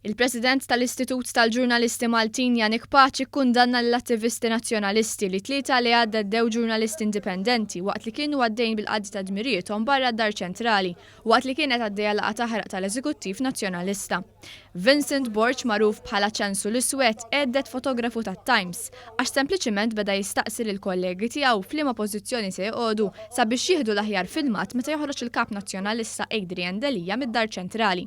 Il-President tal-Istitut tal-Ġurnalisti Maltin Janik Paċi kkundanna lill-attivisti Nazzjonalisti li t-Tlieta li għadda ddew ġurnalisti indipendenti waqt li kienu għaddejjin bil-qadi ta' dmirijiethom barra d-Dar Ċentrali waqt li kienet għaddejja laqgħa taħraq tal-Eżekuttiv Nazzjonalista. Vincent Borg magħruf bħala Ċensu l-Iswed għedded fotografu tat-Times għax sempliċiment beda jistaqsi lill-kollegi tiegħu f'liema pożizzjoni se joqogħdu sabiex jieħdu l-aħjar filmat meta joħroġ il-Kap Nazzjonalista Adrian Delia mid-Dar Ċentrali.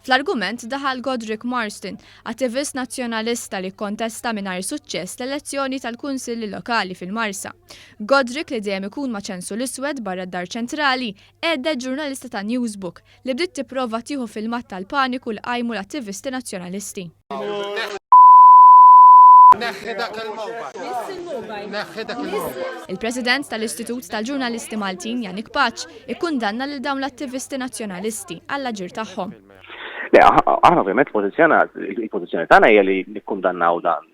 Fl-argument daħal Godric Marsden, attivist Nazzjonalista li kkontesta mingħajr suċċess l-elezzjoni tal-Kunsilli Lokali fil-Marsa. Godric li dejjem ikun ma' ċensu l-iswed barra d-Dar Ċentrali, għedded ġurnalista ta' Newsbook li bdiet tipprova tieħu filmat tal-paniku li qajmu l-attivisti Nazzjonalisti. Neħħi dak il-mobile. Neħħi dak il-mobile. Il-President tal-Istitut tal-Ġurnalisti Maltin Janik Paċ ikkundanna lil dawn l-attivisti nazzjonalisti għall-aġir tagħhom. Le, aħna ovvjament il-pożizzjoni tagħna hija li nikkundannaw dan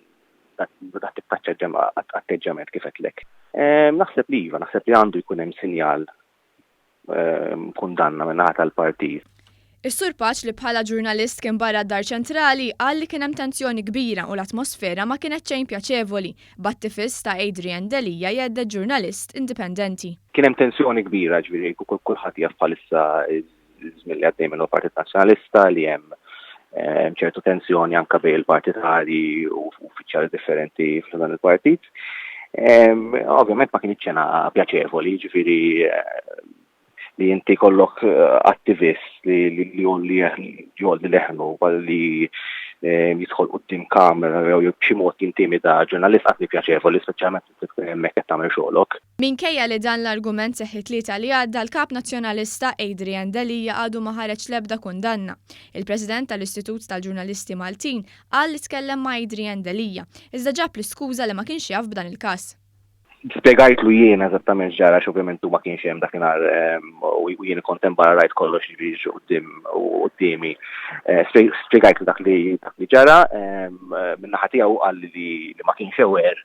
dak atteġġjament kif qedlek. Ehm, naħseb li iva, naħseb li għandu jkun hemm sinjal ehm, kundanna minnaħa tal-partit. Is-Sur Paċ li bħala ġurnalist kien barra d-Dar Ċentrali qal li kien hemm tensjoni kbira u l-atmosfera ma kienet xejn pjaċevoli bat-tifis ta' Adrian Delia jgħedded ġurnalist indipendenti. Kien hemm tensjoni kbira ġifieri kulħadd jaf bħalissa żmien li għaddej minn Partit Nazzjonalista li hemm eh, ċertu tensjoni anka bej il-partitari u uffiċjali differenti f'dan il-partit. Ovvjament ma kien ċena pjaċevoli, ġifiri eh, li inti kollok eh, attivist li li jolli leħnu li eh, jidħol qudiem kamera jew b'xi mod jintimida ġurnalist qatt pjaċevoli speċjalment li tkun hemmhekk qed tagħmel xogħlok. Minkejja li dan l-argument seħħ it-Tlieta li għadda, l-Kap Nazzjonalista, Adrian Delia għadu ma ħareġ l-ebda kundanna. Il-President tal-Istitut tal-Ġurnalisti Maltin qal li tkellem ma' Adrian Delia, iżda ġab l-iskuża li ma kienx jaf b'dan il-każ. Spjegajtlu jiena eżattament x'ġara għax ovvjament hu ma kienx hemm dakinhar u jien kont hemm barra rajt kollox jiġri quddiem quddiemi. Spjegajtlu dak li ġara, min-naħa tiegħu hu qalli li ma kienx aware